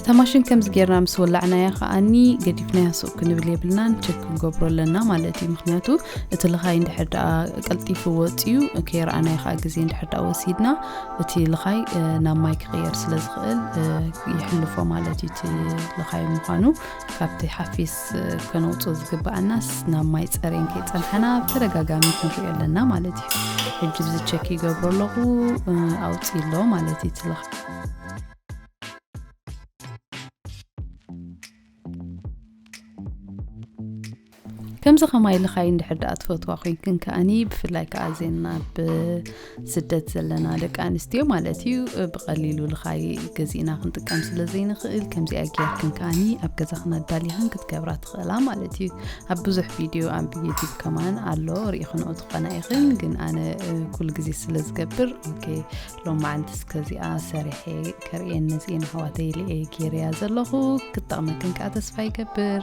እታ ማሽን ከምዚ ጌርና ምስ ወላዕናያ ከዓኒ ገዲፍናያ ሱቅ ክንብል የብልናን ቸክ ክንገብሮ ኣለና ማለት እዩ ምክንያቱ እቲ ልኻይ እንድሕር ደኣ ቀልጢፉ ወፅዩ ከይረኣናዮ ከዓ ግዜ እንድሕር ደኣ ወሲድና እቲ ልኻይ ናብ ማይ ክቅየር ስለ ዝኽእል ይሕልፎ ማለት እዩ እቲ ልኻይ ምዃኑ ካብቲ ሓፊስ ከነውፅኦ ዝግባኣናስ ናብ ማይ ፀሬን ከይፀንሐና ብተደጋጋሚ ክንሪኦ ኣለና ማለት እዩ ሕጂ እዚ ቸክ ይገብሮ ኣለኹ ኣውፅ ኣሎ ማለት እዩ ትለኽ ከምዚ ከማይ ልኻይ እንድሕር ደኣ ትፈትዋ ኮንክን ከኣኒ ብፍላይ ከዓ ዜና ብ ስደት ዘለና ደቂ ኣንስትዮ ማለት እዩ ብቐሊሉ ልኻይ ገዚእና ክንጥቀም ስለ ዘይንኽእል ከምዚኣ ጌርክን ከዓኒ ኣብ ገዛኽን ኣዳሊኽን ክትገብራ ትኽእላ ማለት እዩ ኣብ ብዙሕ ቪድዮ ኣብ ዩቲብ ከማን ኣሎ ርኢኽንኦ ትኾና ኢኽን ግን ኣነ ኩሉ ግዜ ስለ ዝገብር ኦኬ ሎም መዓልቲ እስከዚኣ ሰሪሐ ከርእየን ነዚኤን ኣሕዋተይ ኢለ እየ ጌርያ ዘለኹ ክጠቕመክን ከዓ ተስፋ ይገብር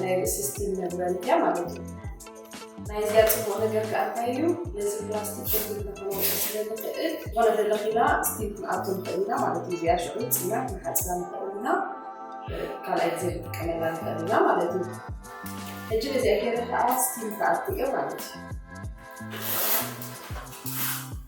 ናይ ርእሲ ስቲም መግበሪ እያ ማለት እዩ ናይዚኣ ፅቡቅ ነገር ከዓ እንታይ እዩ ነዚ ፕላስቲክ ሸግር ተኸወቀ ስለዝኽእል ዝኾነ ደለኺና ስቲም ክንኣቶ ንኽእል ኢና ማለት እዩ እዚኣ ሽዑ ፅና ክንሓፅና ንኽእል ኢና ካልኣይ ግዜ ክንጥቀመላ ንኽእል ኢና ማለት እዩ ሕጂ በዚኣ ገይረ ከዓ ስቲም ክኣቲ እዮ ማለት እዩ